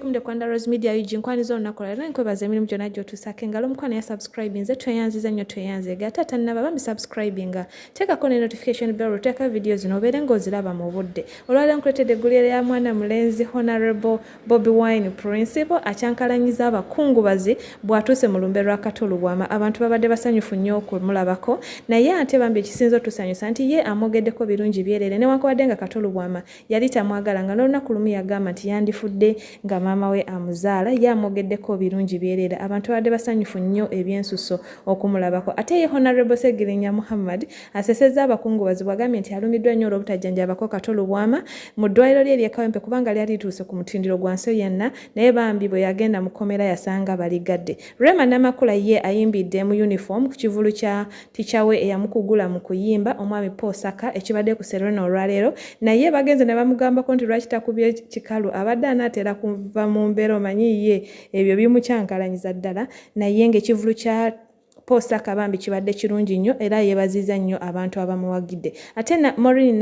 Welcome to Kwanda Rose Media UG nkwani zona nakola era nkwebaza emirimu gyonna gy'otuusaako engalo omukwano ya subscribe nze tweyanziza nnyo tweyanzeega ate ate nnaba bambi subscribinga teekako ne notification bell oteeka vidiyo zino obeere ng'oziraba mu budde olwaleero nkuleetedde eggulire ya mwana mulenzi honorable Bobi Wine Principal akyankalanyiza abakungubazi bw'atuuse mu lumbe lwa Kato Lubwama. Abantu babadde basanyufu nnyo okumulabako naye ate bambi ekisinze otusanyusa nti ye amwogeddeko birungi byereere newankubadde nga Kato Lubwama yali tamwagala nga n'olunaku lumu yagamba nti yandifudde nga maama we amuzaala ye amwogeddeko birungi byereere. Abantu babadde basanyufu nnyo ebyensusso okumulabako ate ye Honorable Ssegirinya Muhammad Asesezza abakungubazi bw'agambye nti alumiddwa nnyo olw'obutajjanjabako Kato Lubwama mu ddwaaliro lye ery'e Kawempe kubanga lyali lituuse ku mutindiro gwa Nsoyanna naye bambi bwe yagenda mu kkomera yasanga baligadde. Rema Namakula ye ayimbidde mu yunifoomu ku kivvulu kya tica we eyamukugula mu kuyimba omwami Paul Saka ekibadde ku Serena olwaleero naye bagenze ne bamugambako nti lwaki takubye kikalu abadde anaatera kuva mu mbeera omanyi ye ebyo bimukyankalanyiza ddala naye ng'ekivvulu kya Paul Saka bambi kibadde kirungi nnyo era yeebaziza nnyo abantu abamuwagidde. Ate na Maureen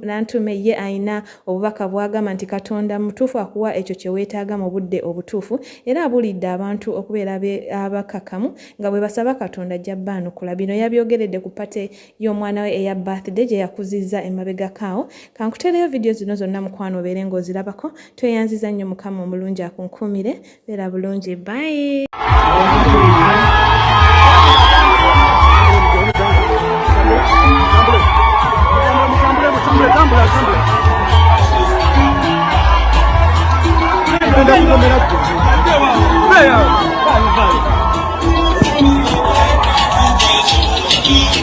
Nantume ye alina obubaka bw'agamba nti Katonda mutuufu akuwa ekyo kye weetaaga mu budde obutuufu era abuulidde abantu okubeera abakakamu nga bwe basaba Katonda ajja baanukula. Bino yabyogeredde ku pate y'omwana we eya birthday gye yakuzizza emabegako awo. Kankuteereyo vidiyo zino zonna mukwano obeere ng'ozirabako. Tweyanziza nnyo Mukama omulungi akunkuumire. Beera bulungi bye.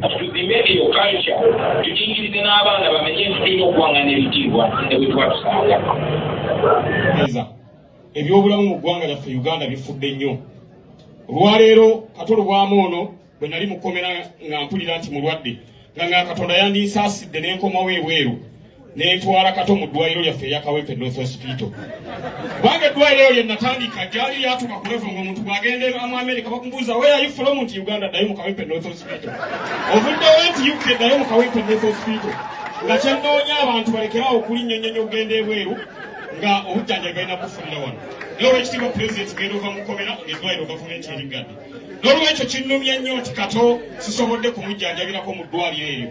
tudime eyo kalca tukiikirize n'abaana bamenye nti tulina okuwangana ebitiibwa ne bwe tuba tusanga ebyobulamu mu ggwanga lyaffe uganda bifudde nnyo olwaleero katolubwamu ono bwe nali mukomera nga mpulira nti mulwadde nga nga katonda yandinsaasidde n'enkomawo ebweru nentwala kato mu ddwaliro lyaffe eya kawempe north hospital kubanga eddwaliro eyo lyenatandika gyali lyatuka ku levo ngaomuntu bwagenda mu america bakubuuza weyayifula omuntu uganda ddayo mu kawempe north hospital ovuddewo nti uk ddayo mu kawempe north hospital nga kyenoonya abantu balekerawo okulinnyonyonya okugenda ebweru nga obujjanjabi balina kufunira wano naye olwekitiibwa pulezidenti genda ova mukomera ngaeddwaliro gavumenti eriggadde n'olwekyo kinnumya nnyo nti kato sisobodde kumujjanjabirako mu ddwaliro eryo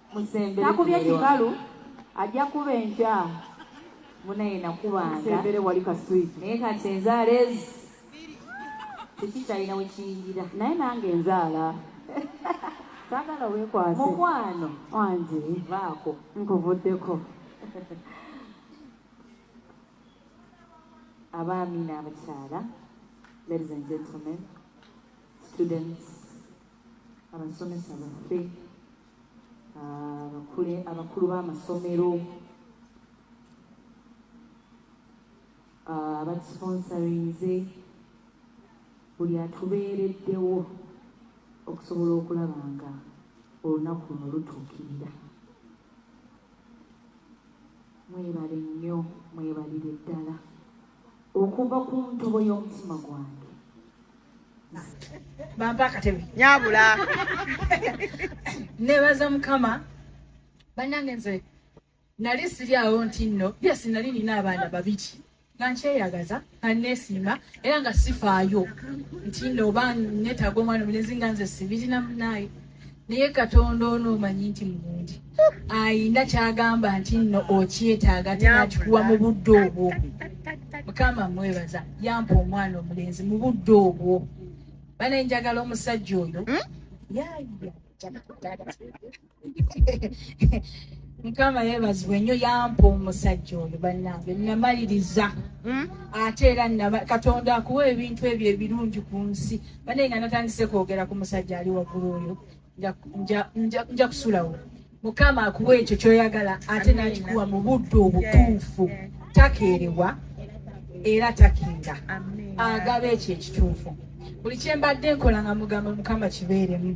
takubye kibalu ajja kuba enkya munaye nakubanga naye kati enzaala ezi tekikyalina wekiyingira naye nange enzaala sagala wekwase mukwano wange vaako nkuvuddeko abaami n'abakyala ladies and gentlemen students abasomesa baffe abakule ah, abakulu b'amasomero ah, abatusponsorinze buli atubeereddewo okusobola okulaba nga olunaku luno lutuukirira mwebale nnyo mwebalire ddala Okuva ku ntobo y'omutima gwange. Bampa akatebe. Nyabula. Nebaza mukama. Banange nze nali siri awo nti nno yesi nali nina abaana babiri nga nkyeyagaza nga nesiima era nga sifaayo nti nno oba netaga omwana omulenzi nga nze sibirina munaye naye katonda ono omanyi nti mulungi ayina kyagamba nti nno okyetaaga tinakikuwa mu budde obwo mukama mwebaza yampa omwana omulenzi mu budde obwo bana enjagala omusajja oyo hmm? mukama yebazibwe nnyo yampa omusajja oyo bannange namaliriza hmm? ate era katonda akuwa ebintu ebyo ebirungi ku nsi Bane nga natandise kwogera ku musajja ali waggulu oyo nja kusulawo mukama akuwa ekyo kyoyagala ate nakikuwa mu budde obutuufu takeerewa era takeera agaba ekyo ekituufu buli kyembadde nkola nga mugamba mukama kibeeremu